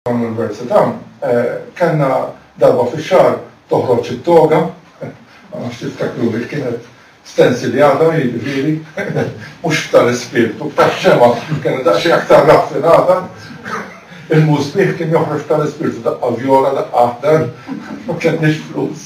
Dawn l-università kellna darba fix-xahar toħroġ it-toga, ma nafx tiftakru li kienet stensiljata, jiġifieri mhux b'tal-ispirtu, b'tax-xemgħa li kienet daqsxejn aktar raffinata. Il-musbieħ kien joħroġ b'tal-ispirtu, daqqa vjola, daqqa aħdar, ma kellniex flus.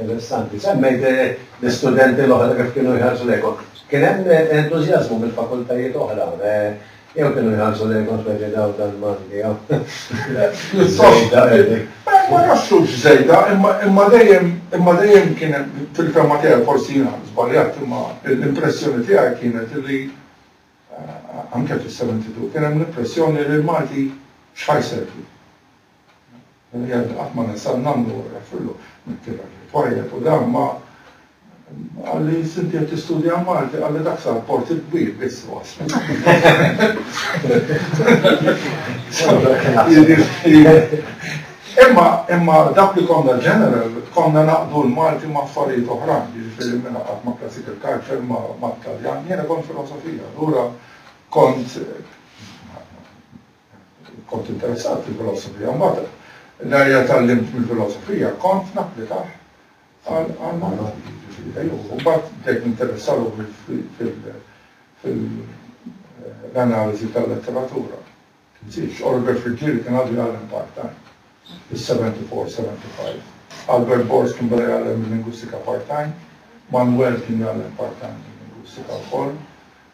Interessanti. Semmejt l-istudenti l-oħra kif kienu jħarsu lejk. Kien hemm entużjażmu mill-fakultajiet oħra jew kienu jħarsu lejkom speċi daw tal-Malti hawn? Żejda qegħdin. Ma nafx hux żejda, imma dejjem imma dejjem kien hemm fil-fehma tiegħi forsi jiena żbaljat imma l-impressjoni tiegħi kienet li anke fis-72 kien hemm l-impressjoni li l-Malti x'ħa jservu. L-ambjent qatt ma ninsah nagħmlu refillu mit-tielet li twajjeb u dan ma qalli inti qed tistudja Malti qalli dak sar port il-kbir biss u waslu. Imma imma dak li konna ġeneral konna naqdu l-Malti ma' affarijiet oħrajn, jiġifieri mela qatt ma' classical culture ma' Taljan, jiena kont filosofija, allura kont Kont interessat fil-filosofija. Mbagħad nhar li tgħallimt mill-filosofija kont napplikah għall-Malti. U mbagħad bdejt ninteressa ruħi fil-analiżi tal-letteratura. Tinsiex, Oliver Friggieri kien għadu jgħallem part-time, fis-74, 75. Albert Borst kien beda jgħallem il-lingwistika part-time. Manuel kien jgħallem part-time il-lingwistika wkoll.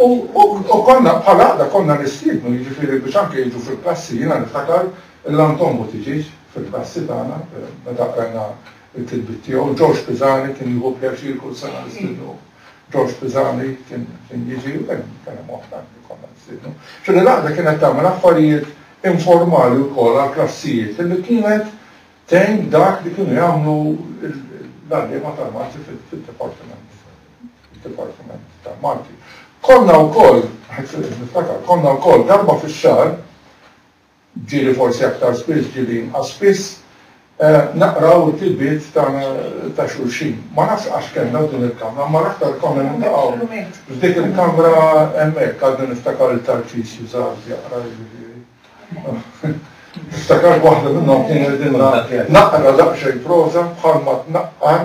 U konna bħal għaqda konna nistiednu jiġifieri biex anke jiġu fil-klassi, jiena niftakar l-Anton Buttiġieġ fil-klassi tagħna meta qrajna l-kitbiet tiegħu, Ġorġ Pisani kien jieħu pjaċir kull sena nistiednuh, Ġorġ Pisani kien jiġi u kien hemm oħra li konna nistiednu. Ġifieri l-għaqda kienet tagħmel affarijiet informali wkoll għall-klassijiet li kienet tgħin dak li kienu jagħmlu l-għalliema tal-Malti fid-dipartiment. fid-Dipartiment tal-Malti. Konna wkoll, niftakar, konna wkoll darba fix-xahar, ġieli forsi aktar spiss, ġieli inqas spiss, eh, naqraw it-tilbiet ta' xulxin. Ma nafx għax kellna din il-kamra, ma l-aktar konna nintaqgħu f'dik il-kamra hemmhekk għaddu niftakar il-tarċis jużaw jaqra Niftakar waħda minnhom kien qegħdin naqra daqsxejn proża bħalma tnaqqar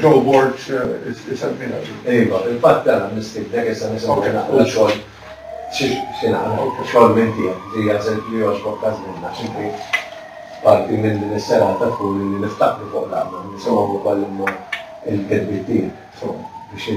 Joe Borg isemmiha din. Iva, fil-fatt tela' nistiednek issa nisimgħu naqra xogħol xi xi naqra xogħol minn tiegħek li jasel li jogħġbok ta' żmien għax inti parti minn din is-serata tkun li niftakru fuq l-għaqda u nisimgħu wkoll imma l-kitbiet tiegħek, insomma, biex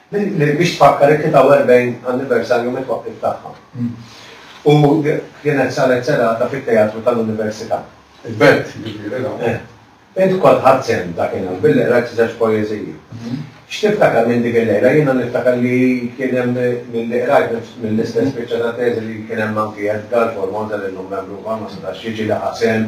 Li biex tfakkar it-43 anniversarju mit-twaqqif tagħha. U kienet saret serata fit-Teatru tal-Università. Il-Belt, jiġifieri, l-hawn. Eh. Int kont ħadt sehem dakinhar billi qrajt żewġ poeżiji. X'tiftakar minn dik il-lejla? Jiena niftakar li kien hemm milli qrajt mill-istess biċċa ta' teżi li kien hemm anki Edgar Formosa li llum membru wkoll ma setax jiġi li ħa sehem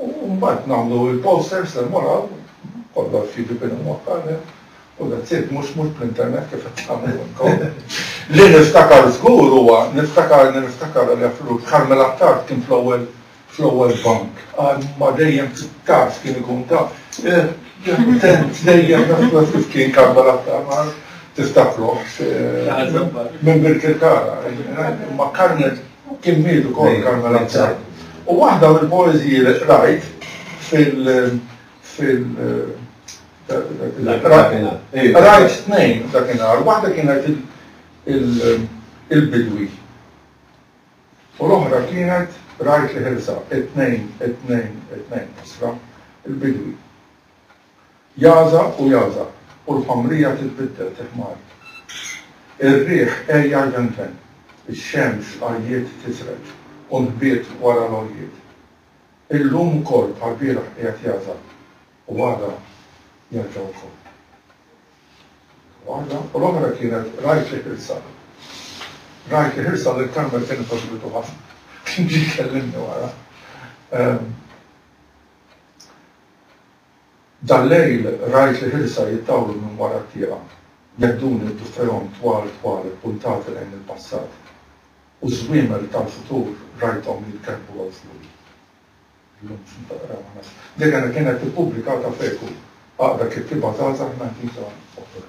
U mbagħad nagħmlu l-posters li mmorru, kollox jiġi bin imwaqqar hemm, u that's it, mhux mhux bl-internet kif qed tagħmlu intom. Li niftakar żgur huwa, niftakar li niftakar għal Jaffrur, Carmel Attard kien fl-ewwel fl-ewwel bank. Qal ma dejjem taf kien ikun taf. Tent dejjem naf kif kien Carmel Attard, tiftakruh minn Birkirkara. Ma Carmel Kien miet ukoll Carmel Abzal. U waħda mill-poeżiji li qrajt fil fil qrajt tnejn dakinhar, waħda kienet il-bidwi. U l-oħra kienet rajt li ħilsa, it-tnejn, it-tnejn, it-tnejn, isra, il-bidwi. Jagħżaq u jagħżaq u l-ħomrija titbiddel fi ħmar. Ir-riħ għejja jvenven, ix-xemx għajjiet tisreġ u nħbiet wara l-għoljiet. Illum ukoll bħall-bieraħ qiegħed jagħżaq u għada jerġa' wkoll. Waħda u l-oħra kienet rajt li ħilsa. Rajt li ħilsa lil Karmel kienet għoġbitu ħafna. Kien ġie jkellimni wara. Dal-lejl rajt li ħilsa jittawlu minn wara t-tieqa, jedduni b'dufehom twal twal ippuntati lejn il-passat, u ż-żwiemel tal-futur rajthom jitkerbbu hawn fuqi. Illum x'int taqra ma nafx. Dik kienet ippubblikata f'Eku, aqra kittieba żgħażagħ mgħażiża oħra.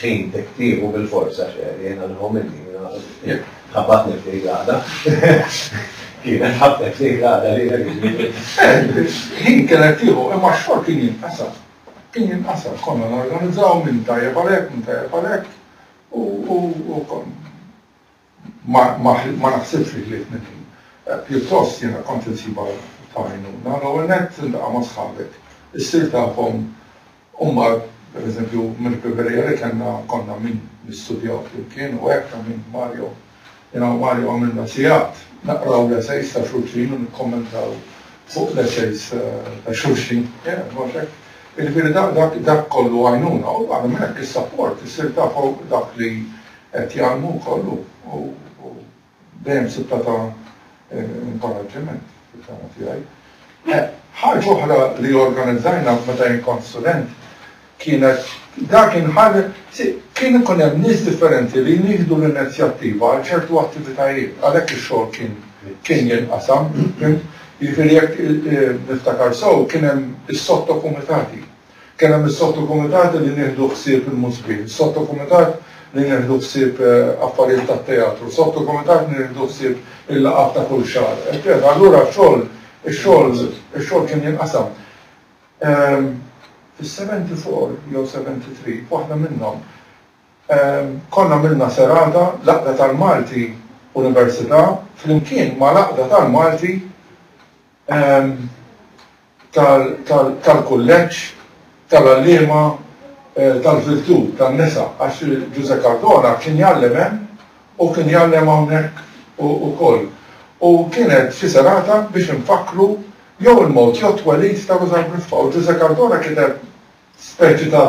Ħin tiktiebu bil-forza x'għedt jien għal homily, jiena ħabatni f'dik l-għaqda. Kienet ħabtet f'dik l-għaqda lilek jiġifieri. Ħin kienet tieħu imma x-xogħol kien jinqasam. Kien jinqasam, konna norganizzaw min tajjeb għal hekk, min tajjeb għal hekk u kont. Ma naħsibx li ħlief minn din. Pjuttost jiena kont insibha ta' għajnuna. L-ewwel nett tiltaqa' ma' sħabek, issir tafhom u mbagħad pereżempju mill-ħbiberija li kellna konna min nistudjaw flimkien u hekk ta' min Mario. Jiena u Mario għamilna sigħat naqraw l-esejs ta' xulxin u nikkommentaw fuq l-esejs ta' xulxin. Jaf, mhux hekk? Jiġifieri dak kollu għajnuna u barra minn hekk is-sapport, issir tafhom dak li Qed jgħallmu wkoll hu u dejjem sibtha ta' inkoraġġiment fil-fehma tiegħi. Ħaġa oħra li organizzajna meta jien kont student kienet dak kien ħal kien ikun hemm nies differenti li jien jieħdu l-inizjattiva għal ċertu attivitajiet għalhekk ix-xogħol kien kien jinqasam, fimt? Jiġifieri jekk niftakar sew kien hemm is-sottokumitati. Kien hemm is-sottokumitati li nieħdu ħsieb il-musbin, sottokumitat li nieħdu ħsieb affarijiet tat-teatru, sottokumitat li nieħdu ħsieb il-laqgħat ta' kull xahar, eċċetera. Allura x-xogħol, ix-xogħol, ix-xogħol kien jinqasam. Fis-seventy four jew seventy three, f'waħda minnhom, konna għamilna serata, l-Għaqda tal-Malti Università, flimkien mal-Għaqda tal-Malti, tal-kulleġġ tal-għalliema tal-virtù tan-nisa għax Ġużè Cardona kien jgħallem hemm u kien jgħallem hawnhekk ukoll u kienet xi serata biex infakkru jew il-mewt jew it-twelid ta' Ruża Briffa u Ġużè Cardona kiteb speċi ta'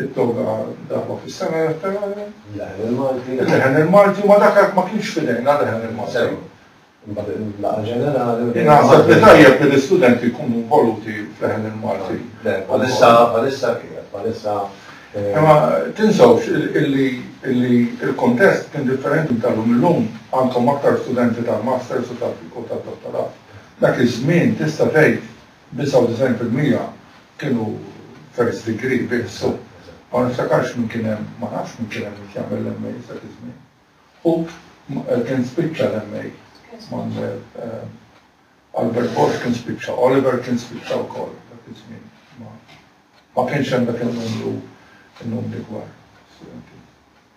It-toga darba fis-sena jaf tagħha. Il-leħen il-Malti. Il-leħen il-Malti, imma dak għad ma kienx f'idejna l-leħen il-Malti. Sew. Imbagħad il-laqgħa ġenerali. Jien naħseb li tajjeb li l-istudenti jkunu involuti f'leħen il-Malti. Le, bħalissa, bħalissa kienet, bħalissa. Imma tinsewx illi l-kuntest kien differenti tal-lum illum għandkom aktar studenti tal-masters u tad-dottorat. Dak iż-żmien tista' tgħid 99% Kienu first degree bih so ma niftakarx min kien hemm, ma nafx min kien hemm biex jagħmel l-MA dak iż-żmien. Hu kien spiċċa l-MA Albert Borg kien spiċċa, Oliver kien spiċċa wkoll dak iż-żmien. Ma kienx hemm dak in-numru numri kbar.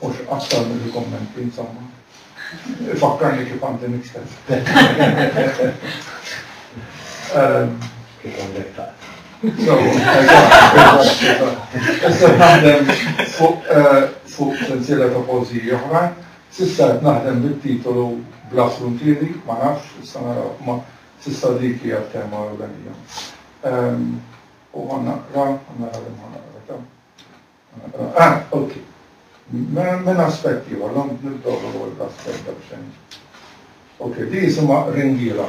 Mhux aktar milli kummenti, insomma. Ifakkarni kif għandi nikteb. Kif għandek ta'. So, issa naħdem fuq sensiela ta' pożiji oħra. Sissa qed naħdem bit-titolu Bla Fruntieri, ma nafx, issa naraw, ma sissa dik hija tema ewlenija. U ħa naqra, ħa naqra li ma naqra ta'. Ah, ok. Minn aspett ieħor, l-għom nibdow l-ewwel b'aspett ta' b'xejn. Ok, di jisimha ringiela.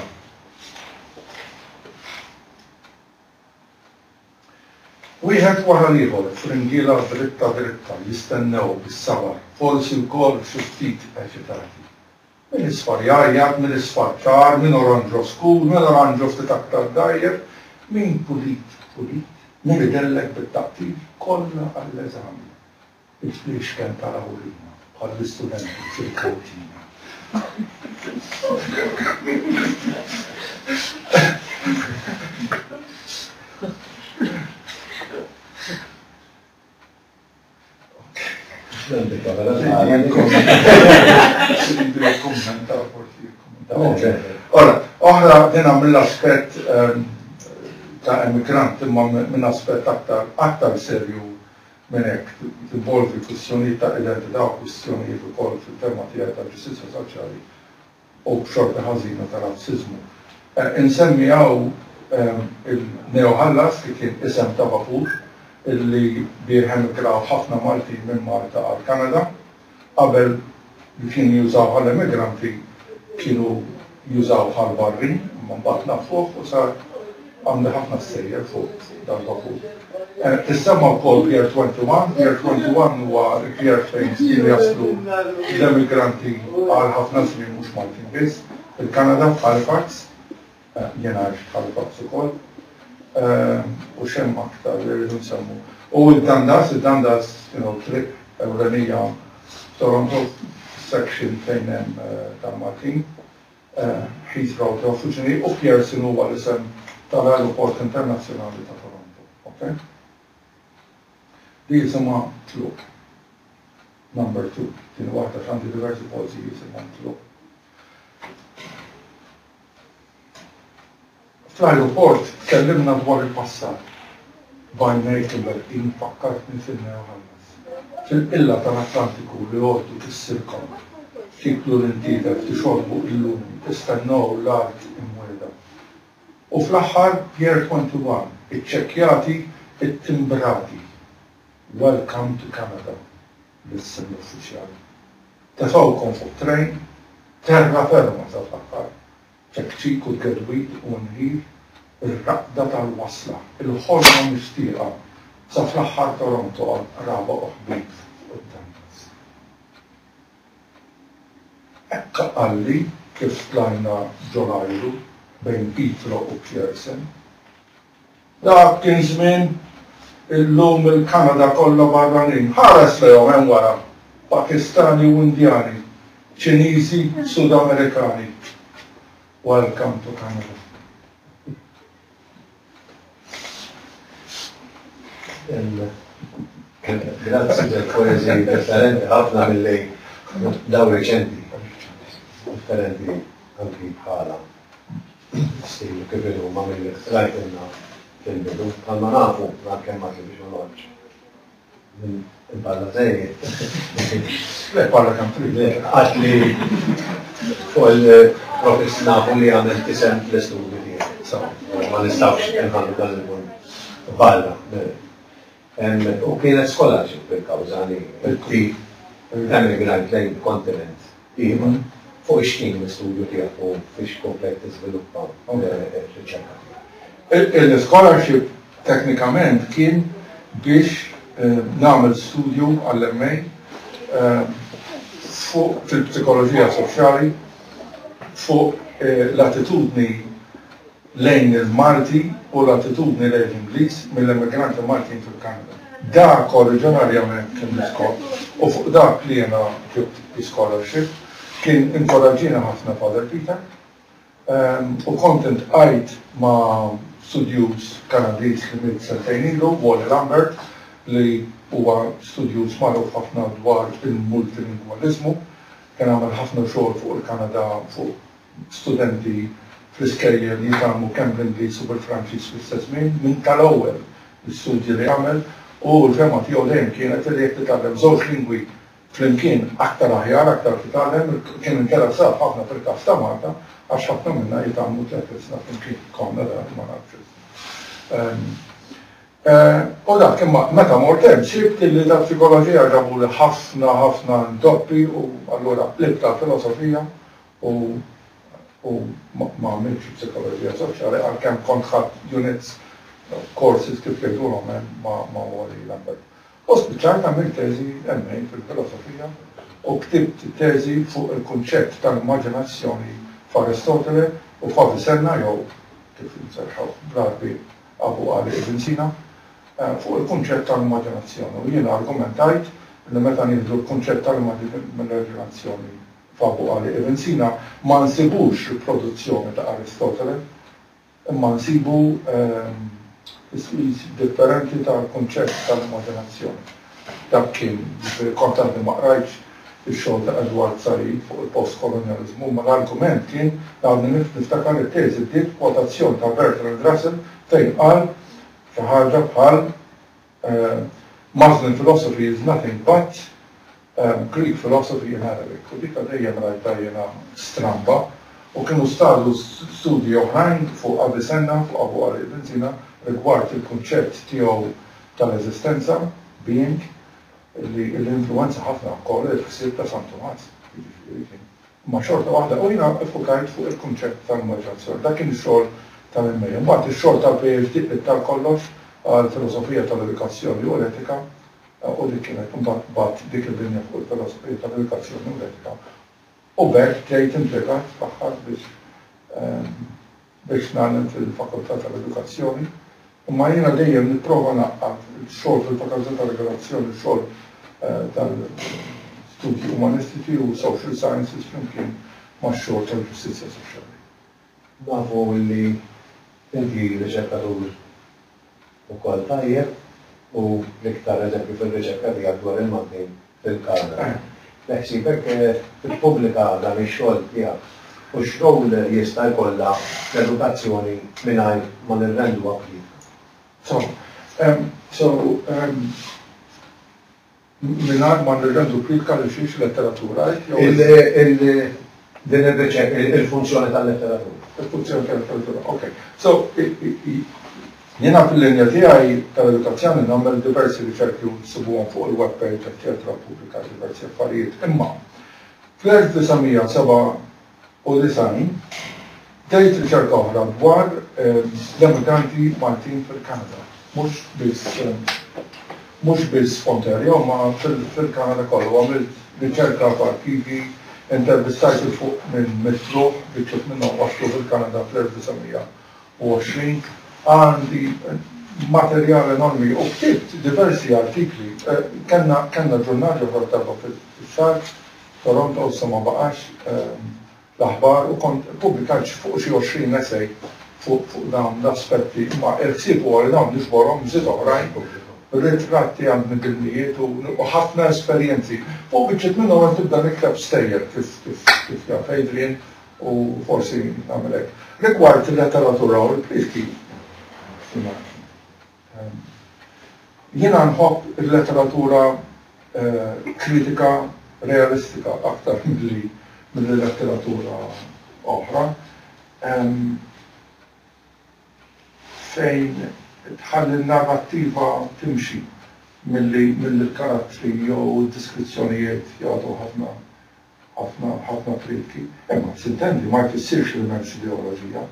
Wieħed wara l-ieħor f'ringiela dritta dritta jistennew bis-sabar, forsi wkoll xi ftit eċitati. Mill-isfar jgħajjat, mill-isfar ċar, minn oranġo skur, minn oranġo ftit aktar dgħajjef, minn pulit pulit, minn idellek bit-taqtir, kollha għall-eżami. Il-fliexken ta' Rawlina, bħall-istudenti fil-kantina. Ora, oħra dina mill-aspett ehm, ta' emigrant imma minn aspett aktar aktar serju minn hekk tinvolvi kwistjonijiet ta' identità u kwistjonijiet ukoll fil-tema tiegħi ta' ġustizzja soċjali u b'xorta ħażina ta' razziżmu. Insemmi hawn il-Neo Hellas li kien isem ta' vapur li bih emigraw ħafna Maltin minn Malta għall-Kanada. Qabel li kienu jużawh għal emigranti kienu jużawh għall-barrin imma mbagħad nafuh u sar Għandi ħafna stejjer fuq dal-vapur. Tissemma wkoll Pier 21. Pier 21 huwa l-pier fejn spiss jaslu l-emigranti għal ħafna żmien mhux Maltin biss. Fil-Kanada, f'Halifax, jien għajt f'Halifax ukoll, u x'hemm aktar li rridu nsemmu. U d-Dundas, id-Dundas, you know, triq ewlenija f'Toronto, section fejn hemm tal-Maltin. Heathrow ta' Fucini u Pearson huwa l-isem tal-Ajruport Internazzjonali ta' Toronto. Ok? Di jisimha Tluq Number Two. Tieni waħda għax għandi diversi posti jisimhom Tluq. Fl-ajruport tkellimna dwar il-passat. B'għajnejk imweddin fakkartni fin-Neo Halles. Fil-qilla tal-Atlantiku li għoddu tissir kont. Tiklu lil tiedek, tixorbu illum, tistennew l-art imwiegħda. U fl-aħħar Pier 21, iċċekkjati, ittimbrati. Welcome to Canada, b'isem l-uffiċjal. Tefgħukom fuq trejn, terra ferma sa fl-aħħar. Tektik u tedwid u nħil, ir-raqda tal-wasla, il-ħolma mixtieqa, sa fl-aħħar Toronto għal qraba u ħbieb fuq quddam biss. Hekk qalli kif tlajna ġol-ajru bejn Pietro u Pierson. Dak kien żmien, illum il-Kanada kollha barranin. Ħares lejhom hemm wara, Pakistani u Indjani, Ċiniżi, Sudamerikani. Welcome to Canada. Grazzi tal-poeżiji differenti ħafna milli dawn reċenti. Differenti anki bħalha. Steve, kif inhu, ma milli qtrajtilna fil-bidu, bħalma nafu, għalkemm ma ġibx ma noqgħodx. Imparla żejjed. Le parla kemm trid, le, għax li kol profess nafu li għamel tisem fl-istudju tiegħek. So, ma nistgħux inħallu dan il-punt barra. U kienet scholarship il-kawża li inti emigrajt lejn kontinent ieħor fuq ix-x'kien l-istudju tiegħek u fiex komplejt tiżviluppa r-riċerka tiegħek. Il-scholarship teknikament kien biex nagħmel studju għall-MA fuq fil-psikoloġija soċjali fuq l-attitudni lejn il-Malti u l-attitudni lejn l-Ingliż mill-emigranti Maltin fil-Kanada. Dak oriġinarjament kien l-iskop u fuq dak li jiena ġibt bi scholarship kien inkoraġġieni ħafna Father Peter u kont iltqajt ma' studjuż Kanadiż li miet sentejn ilu, Wally Lambert, li huwa studjuż magħruf ħafna dwar il-multilingwaliżmu. Kien għamel ħafna xogħol fuq il-Kanada fuq studenti fl-iskejjel jitgħallmu kemm bl-Ingliż u bil-Franċiż fl-istess żmien, minn tal-ewwel l-istudji li għamel u l-fehma tiegħu dejjem kienet li jekk titgħallem żewġ lingwi flimkien aktar aħjar, aktar titgħallem, kien interessat ħafna fil-każ ta' Malta għax ħafna minna jitgħallmu tliet ilsna flimkien, konna dan ma nafx issa. U dak imma meta mort hemm sibt illi tal-psikoloġija ġabuli ħafna ħafna intoppi u allura qlibt għall-filosofija U u ma għamiltx psikoloġija soċjali għalkemm kont ħadt units courses kif jgħidulhom hemm ma ma Wally Lambert. U spiċċajt għamilt teżi MA fil-filosofija u ktibt teżi fuq il-kunċett tal-immaġinazzjoni f'Aristotele u f'Avicenna jew kif inserrħuh bl-Għarbi Abu Għali Ibn Sina fuq il-kunċett tal-immaġinazzjoni u jiena argumentajt li meta nieħdu l-kunċett tal-immaġinazzjoni Papu qal li il-Rinsina ma nsibux riproduzzjoni ta' Aristotele, imma nsibu tiswir differenti tal-kunċett tal-immaġinazzjoni. Dak kien, jiġifieri kont għadni ma qrajtx ix-xogħol ta' Edward Said fuq il-postkolonjaliżmu, imma l-argument kien li għadni niftakar li t-teżi bdiet b'kwotazzjoni ta' Bertrand Russell fejn qal xi ħaġa bħal Muslim philosophy is nothing but Greek philosophy in Arabic. U dika dejjem rajtha jiena stramba u kienu staru studji oħrajn fuq Avicenna, fuq Abu Ali ibn Sina, rigward il-kunċett tiegħu tal-eżistenza, being, li influwenza ħafna wkoll il-ħsieb ta' San Tumas. Jiġifieri kien. Imma xorta waħda, u jiena ffukajt fuq il-kunċett tal-moderazzjoni. Dak kien ix-xogħol tal-MA. Imbagħad ix-xogħol tal-PhD qlibt għal kollox għal filosofija tal-edukazzjoni u l-etika u dik kienet imbagħad tbagħat dik il-linja fuq il-filosofija tal-edukazzjoni u l-etika u b'hekk ġejt impjegat fl-aħħar biex biex nagħlem fil-Fakultà tal-Edukazzjoni, imma jiena dejjem nipprova ngħaqqad ix-xogħol fil-Fakultà tal-Edukazzjoni u x-xogħol tal-Studji Umanistiċi u Social Sciences flimkien max-xogħol tal-Ġustizzja Soċjali. Nafu li inti riċerkatur ukoll tajjeb u l-iktar eżempju fir-riċerka tiegħek dwar il-Maltin fil-Kanada. Beħsiebek tippubblika dan ix-xogħol tiegħek? U x'rowl jista' jkollha l-edukazzjoni mingħajr ma nirrenduha pulita? So, so, um, Mingħajr ma nirrendu kritika lil xi letteratura, hekk jew le? Din ir-riċerka, il-funzjoni tal-letteratura. Il-funzjoni tal-letteratura, ok. So, jiena fil-linja tiegħi tal-edukazzjoni nagħmel diversi riċerki u ssibuhom fuq il-web page, eċċetera, ppubblikajt diversi affarijiet. Imma fl-1907 u design, tgħid riċerka oħra dwar l-emigranti Maltin fil-Kanada, mhux biss mhux biss Ontario imma fil-Kanada kollu. Għamilt riċerka f'arkivi, intervistajt 'il fuq minn mitt ruħ, biċċiet minnhom waslu fil-Kanada fl-1920. Għandi materjal enormi u ktibt diversi artikli. Kellna kellna ġurnal ġewwa d-darba fix-xahar Toronto issa ma baqax l-aħbar u kont ppubblikajt fuq xi għoxrin essay fuq dawn l-aspetti imma il-ħsieb huwa li dawn niġborhom b'żid oħrajn, ritratti għand midinnijiet u ħafna esperjenzi. Fuq biċċiet minnhom qed nibda nikteb stejjer kif kif jaf Adrian u forsi nagħmel hekk. Rigward il-letteratura u l-plieski, Jiena nħobb il-letteratura kritika realistika aktar milli milli letteratura oħra fejn tħalli n-narrattiva timxi milli milli l-karattri jew id-diskrizzjonijiet jagħtu ħafna ħafna ħafna plietki. Imma, sintendi, ma jfissirx li m'hemmx ideoloġija.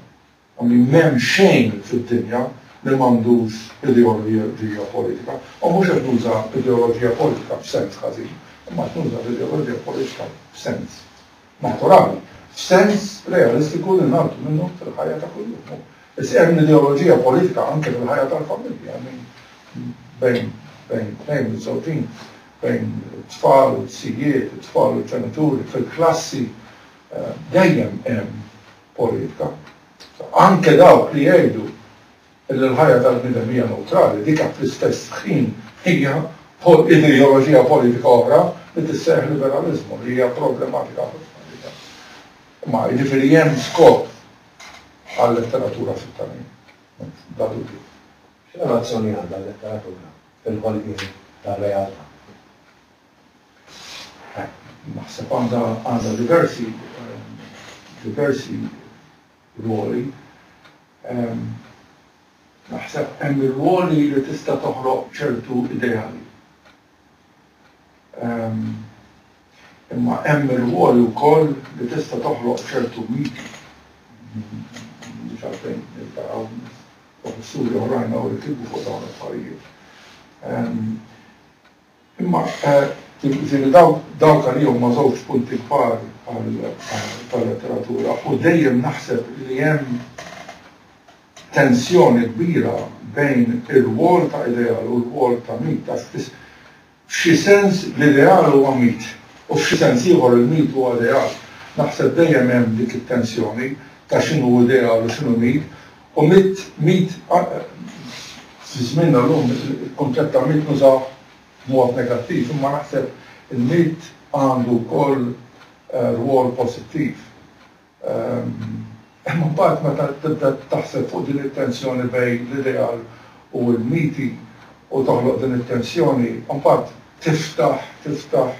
u li m'hemm xejn fid-dinja li m'għandux ideoloġija politika, u mhux qed nuża ideoloġija politika f'sens ħażin, imma qed nuża l-ideoloġija politika f'sens naturali, f'sens realistiku li ngħaddu minnu fil-ħajja ta' kuljum. Is hemm ideoloġija politika anke fil-ħajja tal-familja, hemm min bejn bejn tnejn miżżewġin, bejn it-tfal u t-sijiet, it-tfal u l-ġenituri, fil-klassi, dejjem hemm politika. Anke dawk li jgħidu li l-ħajja tal-bniedem hija newtrali, dik fl-istess ħin hija ideoloġija politika oħra li tissejjaħ liberaliżmu li hija problematika ħafna għalija. Imma jiġifieri hemm skop għal-letteratura fit-tagħlim, bla dubju. X'relazzjoni għandha l-letteratura fil-ħolqien tar-realtà? Naħseb għandha għandha diversi diversi rwoli. Naħseb hemm ir-rwoli li tista' toħloq ċertu ideali. Imma hemm ir-rwoli wkoll li tista' toħloq ċertu miti. Mhux għalfejn niltaqgħu professuri oħrajn hawn li kitbu fuq dawn l-affarijiet. Imma jiġifieri dawk għalija huma żewġ punti kbar tal-letteratura u dejjem naħseb li hemm tensjoni kbira bejn ir-rwol ta' ideal u r-rwol ta' mit għax f'xi sens l-ideal huwa mit u f'xi sens ieħor il-mit huwa ideal. Naħseb dejjem hemm dik it-tensjoni ta' x'inhu ideal u x'inhu mit U mitt, mitt, fi żmienna llum il-kunċett ta' mitt nużawh b'mod negattiv, imma naħseb il-mitt għandu wkoll rwol pożittiv. Imma mbagħad meta tibda taħseb fuq din it-tensjoni bejn l-ideal u l-miti u toħloq din it-tensjoni, mbagħad tiftaħ, tiftaħ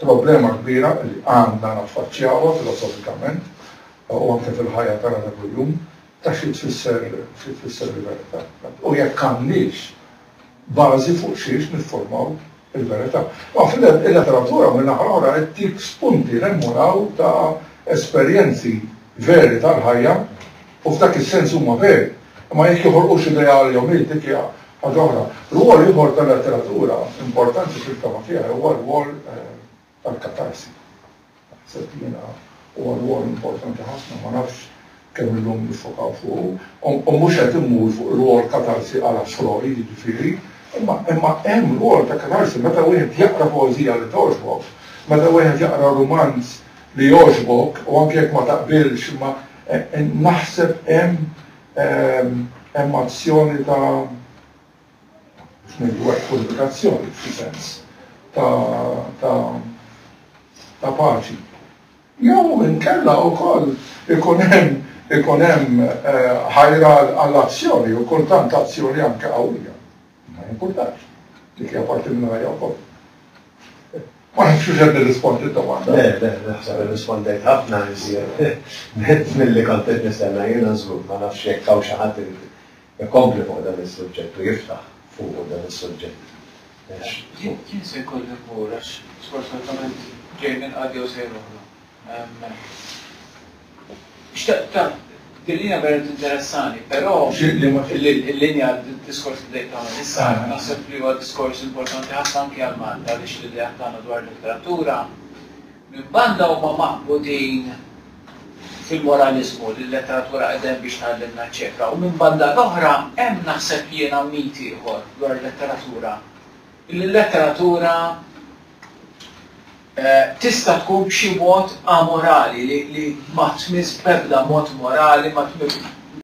Problema kbira li għandna naffaċċjawha filosofikament u anke fil-ħajja tagħna ta' kuljum ta' xi tfisser xi tfisser il-verità. U jekk għandniex bażi fuq xiex nifformaw il-verità. Ma fil-letteratura minn naħa l-oħra qed tik spunti hemm u hawn ta' esperjenzi veri tal-ħajja U f'dak is-sens huma veri. Imma jekk joħolqu xi ideal jew mill dik hija ħaġa oħra. Rwol ieħor tal-letteratura importanti fil-fehma tiegħi huwa r-rwol tal-katarsi. Naħseb li jiena huwa rwol importanti ħafna, ma nafx kemm illum niffokaw fuqu. U u mhux qed immur fuq rwol katarsi à la Freud jiġifieri, imma imma hemm rwol ta' katarsi meta wieħed jaqra poeżija li togħġbok, meta wieħed jaqra rumanz, li jogħġbok u anke jekk ma taqbilx imma naħseb hemm hemm azzjoni ta' x'ngħidu hekk unifikazzjoni f'xi sens ta' ta' ta' paċi. Jew inkella wkoll ikun hemm ikun hemm ħajra għall-azzjoni u kultant azzjoni anke qawwija. Ma jimpurtax. Dik hija parti minn ħajja wkoll. Ma nafx hux qed nirrispondi d-domanda. Le, le, naħseb irrispondejt ħafna iżjed milli kont qed nistenna jiena żgur. Ma nafx jekk hawn xi ħadd irid ikompli fuq dan is-suġġett u jiftaħ fuqu dan is-suġġett. Jien se jkolli mmur għax sfortunatament ġej minn qagħda jew sejħa oħra. Din hija verament interessani, però l-linja d-diskors li bdejt tagħmel issa, naħseb li huwa diskors importanti ħafna anki għal Malta għaliex l-ideat tagħna dwar il-letteratura minn banda huma maqbudin fil-moraliżmu li l-letteratura qiegħda hemm biex tgħallimna eċċetera u minn banda l-oħra hemm naħseb jiena mit ieħor dwar il-letteratura li l-letteratura Tista' tkun b'xi mod amorali, li ma tmissx b'ebda mod morali, ma tmissx